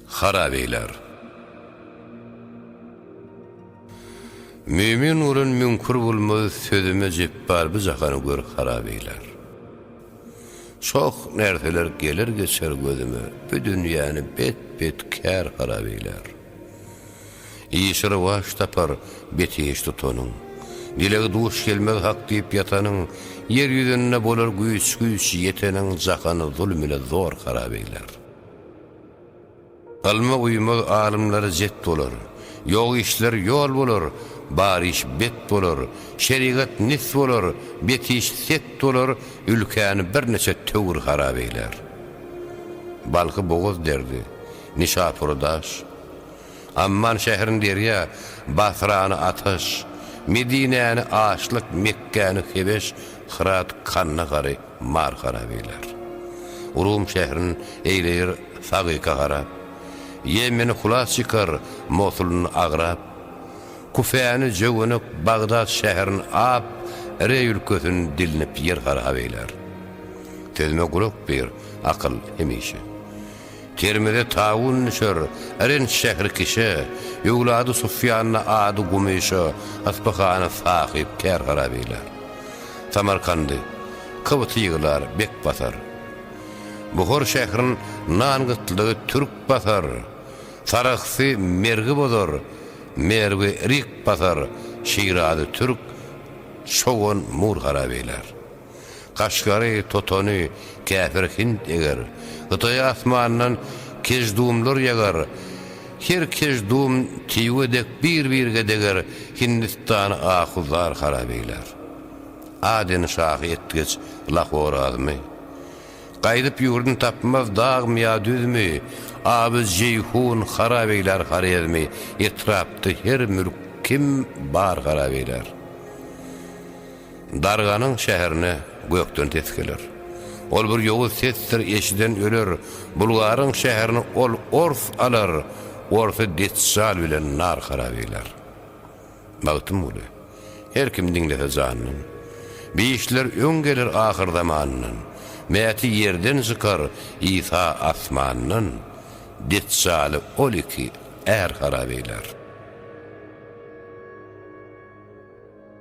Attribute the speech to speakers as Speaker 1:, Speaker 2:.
Speaker 1: Harap eýler. Mömin bolan müňkür bolmaz sözüme jepbar bu jahany görüp harap eýler. Çoh nerseler geler geçer gözüme bu dünýäni bet bet kär harap eýler. Işi rowaç tapar, betiş tutanyň. Dilegi duş gelmez hak diýip ýatanyň, Ýer ýüzünde bolar güýç-güýç ýeteniň, Jahany zulum ile zor harap eýler. Ylma uýmaz alymlar jet bolar, Ýok işler ýol bolar, bar iş bet bolar, Şerigat nis bolar, betiş set bolar, Ülkäni birneçe töwir harap eýler. Balhy bogaz derdi, Nişapury daş, Amman şährini derýa, Basrany ataş, Medinäni açlyk, Mekgäni hebeş, Hyrat, Kandahary mar harap eýler. Rum şährin eýleýär sagyka harap, Ýemeni hulas çykar, Mosulyny agrap, Kufäni jöwenek, Bagdat şährin ap, Reý ülkesin dilinip ýer harap eýler. Sözüme gulak ber, akyl, hemişe. Termize tawun düşer, Yrynç şähri kişä, Öwlady Sufýana ady Gumyşa, Yspyhana sahyp tär harap eýlär. Samarkandy, Kybty ýyglar, bek basar. Buhar şährin nan gytlygy türk basar, Sarahsy Mergi bozar, Merwi rik basar, Şirazy türk, Çogan mur harap eýlär. Gaşgary, totany, käpir Hind eger. Hytaý asmandan keždumlar ýagar. Her keždum tiwe dek bir-birge deger Hindistany ahu-zar harap eýlär. Aden şahy etgeç Lahor azmy. Gaýdyp ýurdun tapmaz dagmy ýa düzmi, Aby Jeýhun harap eýlär Horezmi Etrapda her mülk kim bar harap eýlär. Darganyň şäherine gökden ses geler. Ol bir ýowuz sesdir, eşiden öler, Bulgaryň şäherini ol ors alar, Orsy Dejjal bilen nar harap eýler. Magtymguly, Her kim diňlese jandan, Bişler öň geler ahyr zamandan, Mäti ýerden çykar, Isa asmandan, Dejjaly ol iki är harap eýler.